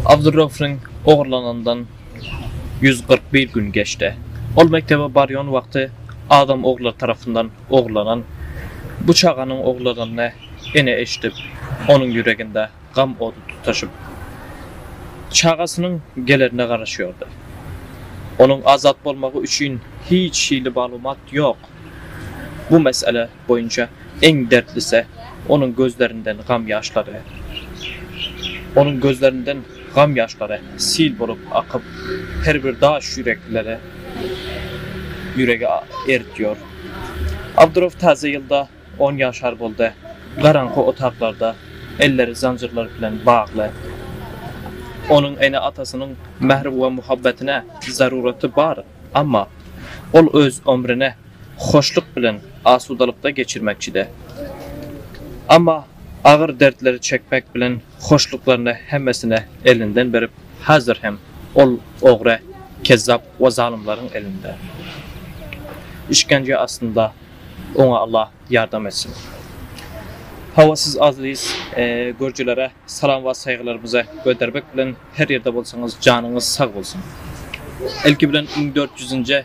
Abdurraufyň ogurlanandan ýüz kyrk bir gün geçdi. Ol mekdebe barýan wagty adam oglary tarapyndan ogurlanan bu çaganyň ogurlananyny ene eşidip, onuň ýüreginde gam ody tutaşyp, çagasynyň gelerine garaşýardy. Onuň azat bolmagy üçin hiç hili maglumat ýok. Bu mesele boýunça iň dertlise onuň gözlerinden gam ýaşlary. Onuň gözlerinden gam ýaşlary sil bolup akyp, her bir daş ýürekleri ýüregi eritýor. Abdurow täze ýylda on ýaşar boldy. Garaňky otaklarda elleri zanjyrlar bilen bagly. Onuň ene-atasynyň mähri we muhabbetine zaruraty bar, amma ol öz ömrüne hoşluk bilen, asudalykda geçirmekçi-de. Emma agyr dertleri çekmek bilen hoşluklaryny hemmesine elinden berip, häzir hem ol ogry, kezzap we zalymlaryň elinde. Işgence astynda. Oňa Allah ýardam etsin. Hawa siz aziz görjilere salam we saýgylarymyzy gödermek bilen her ýerde bolsaňyz janyňyz sag bolsun. Ilki bilen müň dört ýüzünje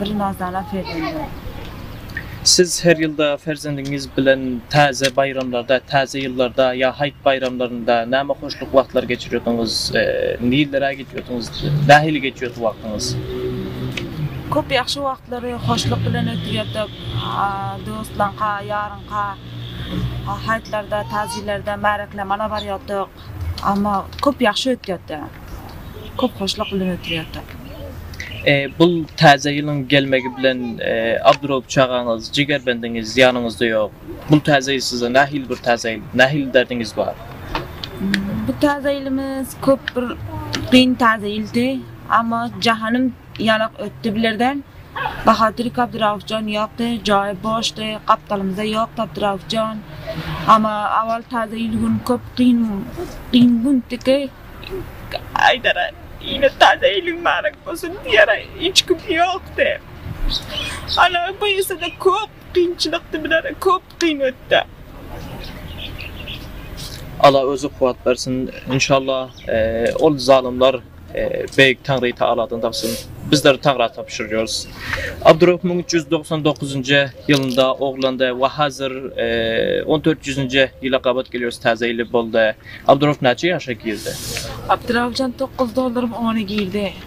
Bir nazala perzendimiz. Siz her ýylda perzendiňiz bilen täze baýramlarda, täze ýyllarda ýa haýt baýramlarynda näme hoşluk wagtlary geçirýärdiňiz? Nirelere gidýärdiňiz? Nähili geçýärdi wagtyňyz? Köp ýagşy wagtlary hoşluk bilen ötürýärdik. Dostlaňka, ýaryňka haýtlarda, täjirlerde märeklemana barýardyk. Amma köp ýagşy ötýärdi. Köp hoşluk bilen ötýärdi. Bu täze ýylyň gelmegi bilen Abduraup çagaňyz, jigerbendiňiz ýanyňyzda ýok. Bu täze ýyl size nähili bir täze ýyl? Nähili derdiňiz bar? Bu täze ýylymyz köp bir kyn täze ýyldy. Amma jahanym Ýalak ötdi bilerden. Bahadurik Abdyraufjan ýokdy, jaýy boşdy, gapdalymyzda ýokdy Abdyraufjan. Ama awal taze ýyl gün köp gyn gyn gündiki. Aýdara ine taze ýylyň barak bolsun diýara hiç kim ýokdy. Ana bu ýesede köp gynçylykdy bilara köp. Kyn ötde. Alla özi kuwat bersin inşalla ol zalymlar beýik Taňry Taaladan tapsyn bizler Taňra tapşyrýarys Abdurahym müň üç ýüz doksan dokuzynjy ýylynda oglandy we hazir on dört ýüzünji ýyla gabat gelýärys täze ýyl boldy Abdurahym näçe ýaşa girdi Abdurahymjan tokuz dollarym ony girdi.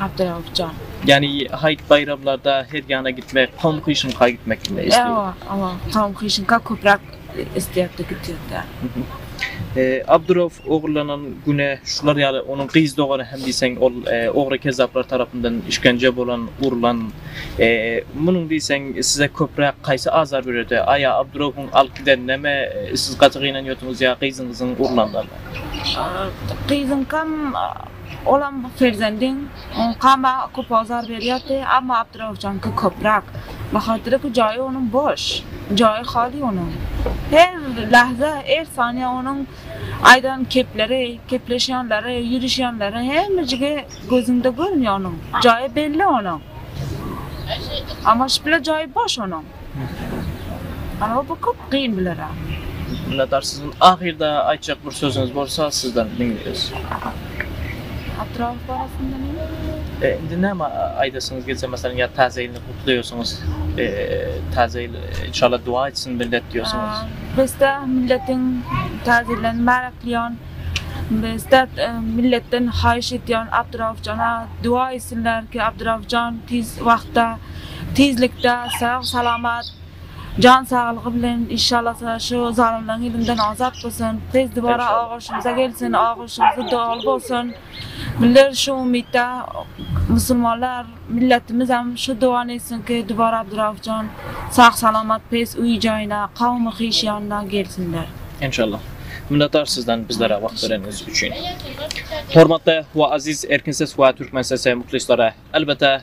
Abdurauf jan. Ýani haýt baýramlarda her ýana gitmek Tom Hyşynka gitmek kimi eşdeýin. Ewa ewa Tom Hyşynka köpräk isleýärdi gitýärdi. Abdurauf ogurlanan güne şular ýaly onuň gyz dogany hem diýseň ol ogry kezzaplar tarapyndan işgence bolan urulan munuň diýseň size köpräk haýsy azar berýärdi aýa Abduraufuň alyp gidenindemi siz gaty gynanýardyňyz ýa gyzyňyzyň urulanynda. Gyzyňkam Olam bu perzendiň Kama köp azar berýärdi, amma Abdyrauhjanky köpräk. Bahatyryky jaýy onuň boş. Jaýy haly onuň. Her lahza, er saniýe onuň aýdan kepleri, kepleşýänleri, ýürüşýänleri hemmejigi gözüňde görünýär onuň. Jaýy belli onuň. Amaşypla jaýy boş onuň. Aga bu köp gyn bilara. Minnetdar sizden ahyrda aýtjak bir sözüňiz bolsa sizden diňleýäs. Atrap barasynda näme? Indi näme aýdasyňyz gelse meselem ýa täze ýylyny gutlaýarsyňyz. Täze ýyl inşallah duwa etsin millet diýýärsiňiz. Bizde milletiň täze ýylyny mübärekleýän. Bizde milletden haýyş edýän Abdurauf jana duwa etsinler ki Abdurauf jan tiz wagtda Tizlikde sag salamat jan saglygy bilen inşalasa şu zalymlaň elinden azat bolsun tez dubara ogluşymyza gelsin ogluşymyzy doly bolsun bizler şu umytda musulmanlar milletimizem şu duany etsinki dubara Abduraufjan sag salamat pes uy jaýyna kawmy hiş ýanyna gelsinler. Enşalla. Minnetdar sizden bizlere wagt bereniňiz üçin. Hormatly we aziz Erkin ses we Türkmen sesi muhlisleri, elbete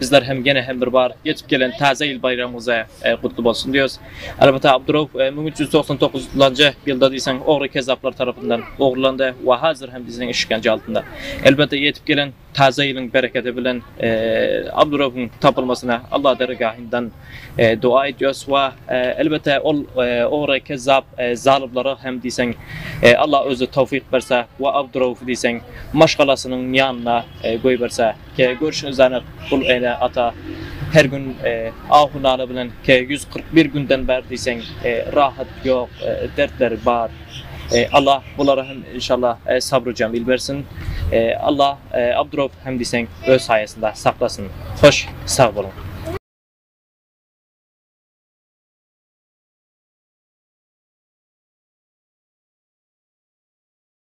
Bizler hem gene hem bir bar geçip gelen taze ýyl baýramyňyz gutly bolsun diýeris. Elbetde Abdurow 1399 njy ýylda diýseň ogry kezzaplar tarapyndan ogurlandy we hazir hem bizden işgence altynda. Elbetde ýetip gelen taze ýylyň berekedi bilen Abdurowyň tapylmasyna Allah dergahyndan doa edýäris we elbetde ol ogry kezzap zalymlara hem diýseň Allah özi towfik berse we Abdurowy diýseň maşgalasynyň ýanyna Goýberse, kä görşüňiz anyk, bul ene, ata her gün ahu-nala bilen, kä ýüz kyrk bir günden bäri diýseň, rahat ýok, dertleri bar. Allah bulara hem inşallah sabry jemil bersin. Allah Abdurowy hem diýseň öz saýasynda saklasyn. Hoş, sag boluň.